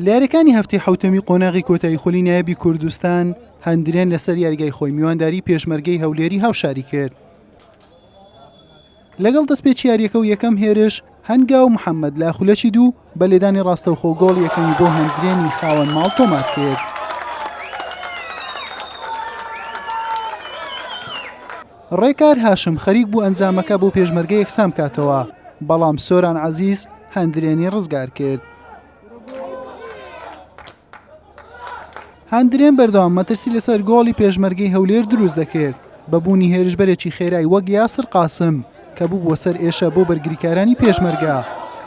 لە یاریەکانی هەفتی حوتەمی قۆناغی کۆتایی خولی نایبی کوردستان هەندرێن لەسەر یاریگای خۆی میوانداری پێشمەرگەی هەولێری هاوشاری کرد لەگەڵ دەستپێچ یاریەکە و یەکەم هێرش هەنگا و محەممەد لە خولەکی دوو بە لێدانی ڕاستەوخۆ گۆڵ یەکەمی بۆ هەندرێنی خاوەن ماڵ تۆمار کرد. ڕێکار هاشم خەریک بوو ئەنجامەکە بۆ پێشمەرگە یەکسان بکاتەوە، بەڵام سۆران عەزیز هەندرێنی ڕزگار کرد. هەندرێن بەردەوام مەترسی لەسەر گۆڵی پێشمەرگەی هەولێر دروست دەکرد بە بوونی هێرشبەرێکی خێرای وەک یاسر قاسم کە بووبووە سەر ئێشە بۆ بەرگریکارانی پێشمەرگە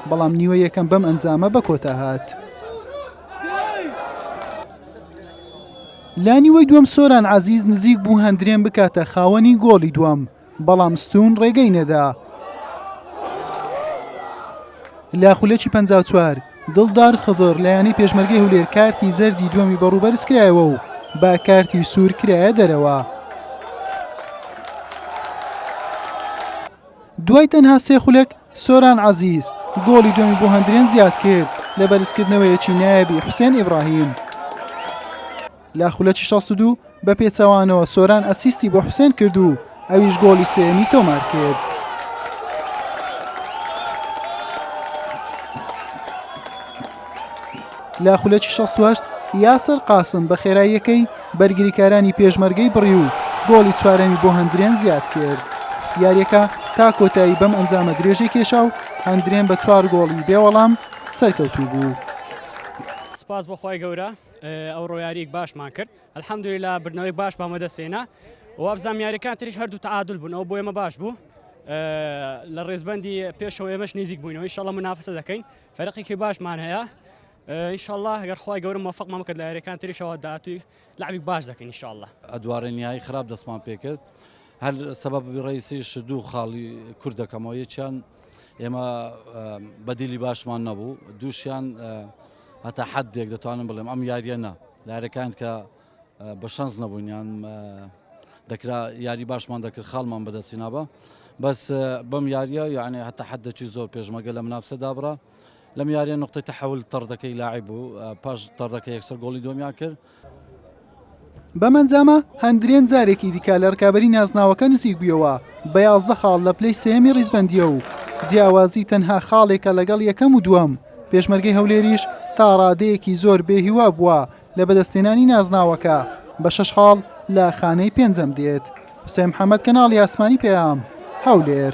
بەڵام نیوە یەکەم بەم ئەنجامە بە کۆتا هات. لە نیوەی دووەم سۆران عەزیز نزیک بوو هەندرێن بکاتە خاوەنی گۆڵی دووەم بەڵام ستون ڕێگەی نەدا لە خولەکی 54 دڵدار خضر لە یانەی پێشمەرگەی هولێر کارتی زەردی دووەمی بەڕوبەرز کرایەوە و با کارتی سوور کرایە دەرەوە دوای تەنها سێ خولەک سۆران عەزیز گۆڵی دووەمی بۆ هەندرێن زیاد کرد لە بەرزکردنەوەیەکی نایابی حوسێن ئیبراهیم. لە خولەکی 62 بە پێچەوانەوە سۆران ئەسیستی بۆ حوسێن کرد و ئەویش گۆڵی سێمی تۆمار کرد. لە خولەکی 68 یاسر قاسم بە خێراییەکەی بەرگریکارانی پێشمەرگەی بڕی و گۆڵی چوارەمی بۆ هەندرێن زیاد کرد. یاریەکە تا کۆتایی بەم ئەنجامە درێژەی کێشا و هەندرێن بە چوار گۆڵی بێ وەڵام سەرکەوتوو بوو. سپاس بۆ خوای گەورە ئەو ڕۆیاریک باشمان کرد الحمدللا بردنەوەی باش بامەدەسێنا وابزانام یاریەکان تریش هەردوو تعادل بوون ئەو بۆ ئێمە باش بوو لە ڕێزبندی پێشەوە ئێمەش نزیک بووینەوەی شەڵە منافسە دەکەین فەرقێکی باشمان هەیە ان شاء اللە گەر خوای گەورە موفقمان بکات لە یاریەکان تریشەوە داهاتووی لعبی باش دەکەین ان شاء اللە ئەدوارێن یای خراپ دەستمان پێکرد هەر سەبەب ڕیسیش دوو خاڵی کورد دەکەمەوە یەکیان ئێمە بەدیلی باشمان نەبوو دووشیان هەتا حەد دێک دەتوانم بڵێم ئەم یاریە نە لارەکان کە بە شەنس نەبوونیان دەکرا یاری باشمان دەکرد خاڵمان بەدەستی نابە بەس بەم یاریە یعنی هەتا حەدەکی زۆر پێشمەگە لە منافسە دابڕە لەم یاریە نقطەی تەحول تەڕدەکەی لاعب بوو پاش تەڕدەکە یەکسەر گۆڵی دۆمیان کرد بەمەنجامە هەندرێن جارێکی دیکە لە ڕکابی نازناوەکە نزیک بوویەوە بە یازدە خاڵ لە پلەی سێمی ڕیزبندیە و جیاوازی تەنها خاڵێکە لەگەڵ یەکەم و دووەم پێشمەرگەی هەولێریش تا ڕادەیەکی زۆر بێهیوا بووە لە بەدەستێنانی نازناوەکە بە شەش خاڵ لە خانەی پێنجەم دێت حسێن محەممەد کەناڵی ئاسمانی پێیام هەولێر.